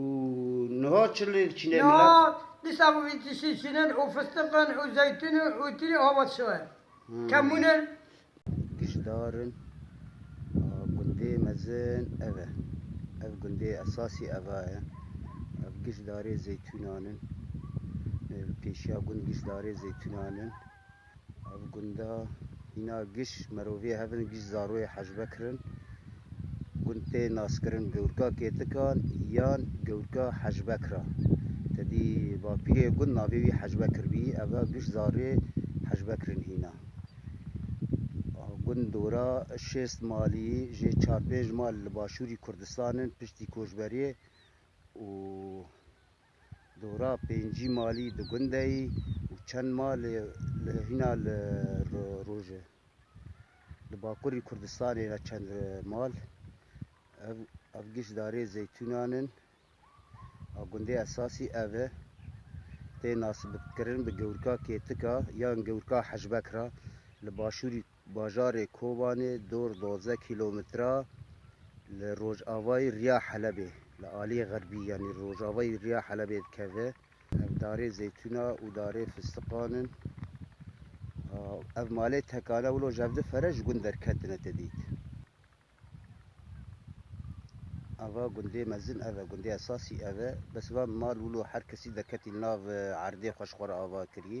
Û niha çi lê diçîne milet? Niha dîsa bi vî tiştî çînin û fistiq in û zeytûn in û tîrî ava dişewe. Kemûn in. Gijdar in. Gundê mezin ev e. Ev gundê esasî ava ye. Ev gijdarê zeytûnan in. Pêşiya gund gijdarê zeytûnan in. Ev gunda hîna giş meroviyê hev in, giş zaroyê Hacbekir in. Gund tê naskirin Gewrka Kêtikan yan Gewrka Hacbekir a. Tedî bapîrê gund navê wî Hacbekir bî, ev a giş zaroyê Hacbekir in hîna. Gund dora şêst malî jê çar pênc mal li başûrî Kurdistan in piştî koçberiyê û Dora pêncî malî di gunde yî û çend mal li hîna li roj e. Li bakurî Kurdistanê ve çend mal. Ev ev giş darê zeytûnan in. A gundê esasî ev e. Tê nasibkirin bi gewrika Kêtika yan gewrika Hejbek re li başûrî. Bajarê Kobanê dor duwazdeh kîlometre li rojavayî riya Helebê, li aliyê xerbî yanî rojavayî riya Helebê dikeve. Ev darê zeytûna û darê fistiqan in. Ev malê tekane wilo jevdi fere ji gund derketine te dît. Ava gundê mezin ev e, gundê esasî ev e. Bes van mal wilo her kesî derketî nav erdê xwe ji xwe re ava kirî.